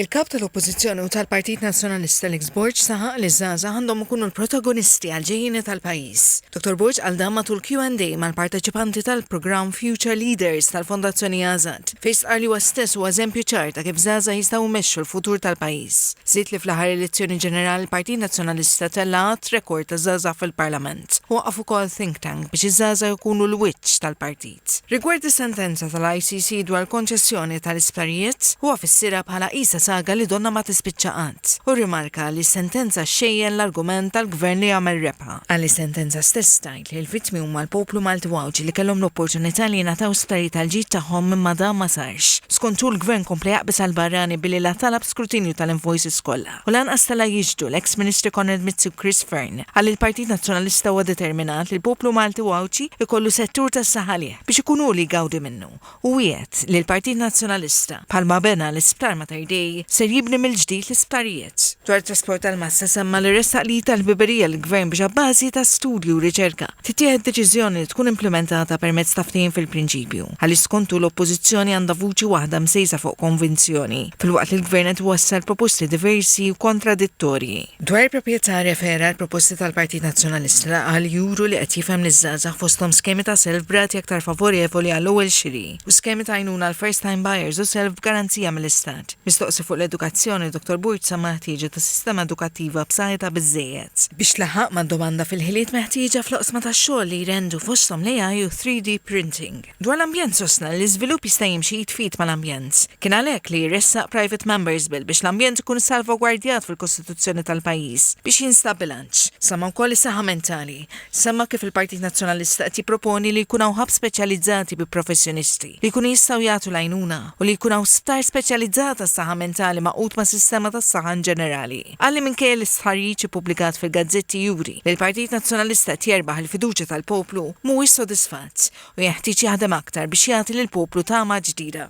Il-Kap tal-Oppożizzjoni u tal-Partit Nazzjonalista Alex Borg saħaq li ż-żgħażagħ għandhom ikunu l-protagonisti għall-ġejjieni tal-pajjiż. Dottor Borg qal dan matul Q and A mal-parteċipanti tal-programm Future Leaders tal-Fondazzjoni AZAD, fejn stqarr li huwa stess huwa eżempju ċar ta' kif żgħażagħ jistgħu jmexxu l-futur tal-pajjiż. Żied li fl-aħħar elezzjoni ġenerali l-Partit Nazzjonalista tella' għadd rekord ta' żgħażagħ fil-Parlament. Waqqaf ukoll think tank biex iż-żgħażagħ ikunu l-wiċċ tal-partit. Act. Rigward is-sentenza tal-ICC dwar il-konċessjoni tal-isptarijiet, huwa fissirha bħala qisha saga li donnha ma tispiċċa qatt, u rrimarka li s-sentenza xxejjen l-argument tal-Gvern li jagħmel rebħa, għalli s-sentenza stess tgħid li l-vittmi huma l-poplu Malti u Għawdxi li kellhom l-opportunità li jingħataw sptarijiet għall-ġid tagħhom imma dan ma sarx. Skont hu l-Gvern kompla jaqbeż għall-barrani billi la talab skrutinju tal-invoices kollha, u lanqas tela' jixhdu l-eks Ministri Konrad Mizzi u Chris Fearne. Qal li l-Partit Nazzjonalista huwa determinat li l-poplu Malti u Għawdxi jkollu settur tas-saħalieħ biex ikun hu li jgawdi minnu u wiegħed li l-Partit Nazzjonalista, bħalma bena l-Isptar Mater Dei, ser jibni mill-ġdid l-isptarijiet. Dwar it-trasport tal-massa semma li ressaq li jitgħal ħbiberija lill-Gvern biex abbażi ta' studji u riċerka Tittieħed deċiżjoni li tkun implimentata permezz ta' ftehim fil-prinċipju, għaliex skontu l-Oppożizzjoni għandha vuċi waħda msejsa fuq konvinzjoni, filwaqt li l-Gvern qed iwassal proposti diversi u kontradittorji. Dwar il-proprjetà, rrefera għall-proposti tal-Partit Nazzjonalista li qal li juru li qed jifhem liż-żgħażagħ fosthom skemi ta' self b'rati aktar favorevoli għall-ewwel xiri u skemi ta' għajnuna għall-first-time buyers u self b'garanzija mill-Istat. Mistoqsi fuq l-edukazzjoni, Dottor Borg semma l-ħtieġa ta' sistema edukattiva b'saħħitha biżżejjed, biex tlaħħaq mad-domanda fil-ħiliet meħtieġa fl-oqsma tax-xogħol li jrendu fosthom l-AI u t-3D printing. Dwar l-ambjent sostna li l-iżvilupp jista' jimxi id f'id mal-ambjent. Kien għalhekk li ressaq Private Members Bill biex l-ambjent ikun salvagwardjat fil-Kostituzzjoni tal-pajjiż biex jinstab bilanċ. Semma wkoll is-saħħa mentali. Semma kif il-Partit Nazzjonalista qed jipproponi li jkun hawn hubs speċjalizzati bi professjonisti li jkunu jistgħu jagħtu l-għajnuna u li jkun hawn sptar speċjalizzat għas-saħħa mentali magħqud mas-sistema tas-saħħa inġenerali. Qal li minkejja li stħarriġ ippubblikat fil-gazzetti juri li l-Partit Nazzjonalista qed jerbaħ il-fiduċja tal-poplu, mhuwiex sodisfatt u jenħtieġ jaħdem aktar biex jagħti lill-poplu tama ġdida.